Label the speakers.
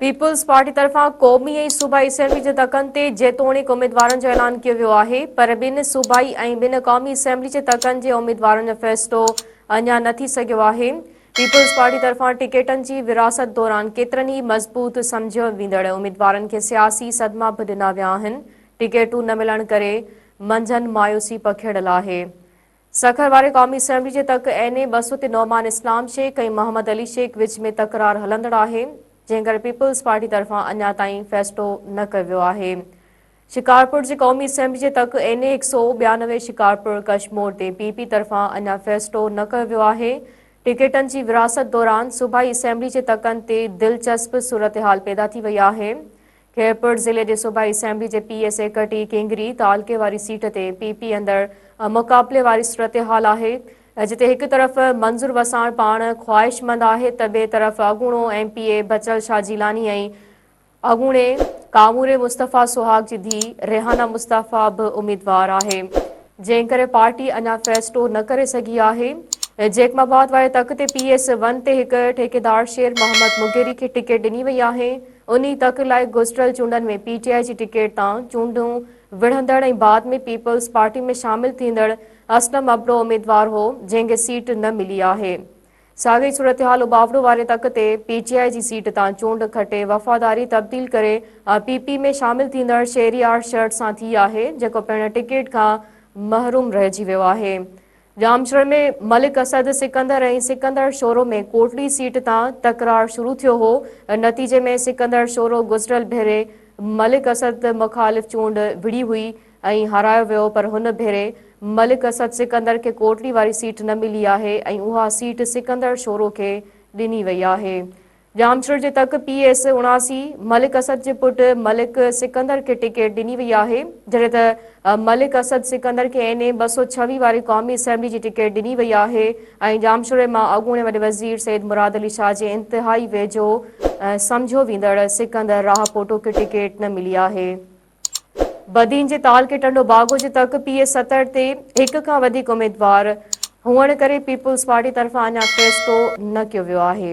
Speaker 1: Peoples Party طرفان قومي ۽ صوبائي اسيمبلي جي تڪن تي جيتوڻيڪ اميدوارن جو اعلان ڪيو ويو آهي پر ٻن صوبائي ۽ ٻن قومي اسيمبلي جي تڪن جي اميدوارن جو فيصلو اڃا نه ٿي سگهيو آهي پيپلز پارٽي طرفان ٽڪيٽن جي ورهاست دوران ڪيترن ئي مضبوط سمجهيو ويندڙ اميدوارن کي سياسي صدما به ڏنا ويا آهن ٽڪيٽون نه ملڻ ڪري منجهن مايوسي پکيڙيل آهي سکر واري قومي اسيمبلي جي تڪ اين اي ٻه سؤ تي نعمان اسلام شيخ ۽ محمد علي شيخ وچ ۾ تڪرار هلندڙ آهي جنهن ڪري پيپلز پارٽي طرفان اڃا تائين فيصلو نه ڪيو ويو آهي شڪارپور جي قومي اسيمبلي جي تڪ اين اي هڪ سؤ ٻيانوي شڪارپور ڪشمور تي پي پي طرفان اڃا فيصلو نه ڪيو ويو آهي ٽڪيٽن جي ورهاست دوران صوبائي اسيمبلي جي تڪن تي دلچسپ صورتحال پيدا ٿي وئي آهي خيرپور ضلعي جي صوبائي اسيمبلي جي پي ايس اي ڪٽي ڪينگري تعلقي واري سيٽ تي پي پي اندر مقابلي واري صورتحال آهي جتي هڪ طرف منظور وساڻ پاڻ خواهشمند آهي ته ٻئي طرف اڳوڻو M P A Bachal Shah Jilani ۽ اڳوڻي ڪاموري مصطفيٰ سهاگ جي ڌي ريحانا مصطفيٰ به اميدوار آهي جنهن ڪري پارٽي اڃا فيصلو نه ڪري سگهي آهي جيڪب آباد واري تخت تي پي ايس ون تي هڪ ٺيڪيدار شير محمد مغيري کي ٽڪيٽ ڏني وئي آهي انهي تڪ لاء گذريل چونڊن ۾ پي ٽي آء جي ٽڪيٽ تان چونڊون وڙهندڙ ۽ بعد ۾ پيپلز پارٽي ۾ شامل ٿيندڙ اسلم ابڙو اميدوار هو جنهن کي سيٽ نه ملي آهي ساڳئي صورتحال اٻاوڙو واري تڪ تي پي ٽي آء جي سيٽ تان چونڊ کٽي وفاداري تبديل ڪري پي پي ۾ شامل ٿيندڙ شهريار شرٽ سان ٿي آهي جيڪو پڻ ٽڪيٽ کان محروم رهجي ويو آهي ڄامشوري ۾ ملڪ اسد سڪندر ۽ سڪندر شورو ۾ ڪوٽڙي سيٽ تان تڪرار شروع ٿيو هو، نتيجي ۾ سڪندر شورو گذريل ڀيري ملڪ اسد مخالف چونڊ وڙهي هئي ۽ هارايو ويو پر هن ڀيري ملڪ اسد سڪندر کي ڪوٽڙي واري سيٽ نه ملي آهي ۽ اها سيٽ سڪندر شورو کي ڏني وئي آهي. ڄامشوري جي تڪ پي ايس اڻاسي ملڪ اسد جي پٽ ملڪ سڪندر کي ٽڪيٽ ڏني وئي آهي جڏهن ته ملڪ اسد سڪندر کي اين اي ٻه سؤ ڇويهه واري قومي اسيمبلي جي ٽڪيٽ ڏني وئي آهي ۽ ڄامشوري مان اڳوڻي وڏي وزير سيد مراد علي شاهه جي انتهائي ويجهو سمجهيو ويندڙ سڪندر راهپوٽو کي ٽڪيٽ نه ملي آهي بدين جي تعلقي ٽنڊو باغو جي تڪ پي ايس ستر تي هڪ کان وڌيڪ اميدوار هئڻ ڪري پيپلز پارٽي طرفان اڃا فيصلو نه ڪيو ويو آهي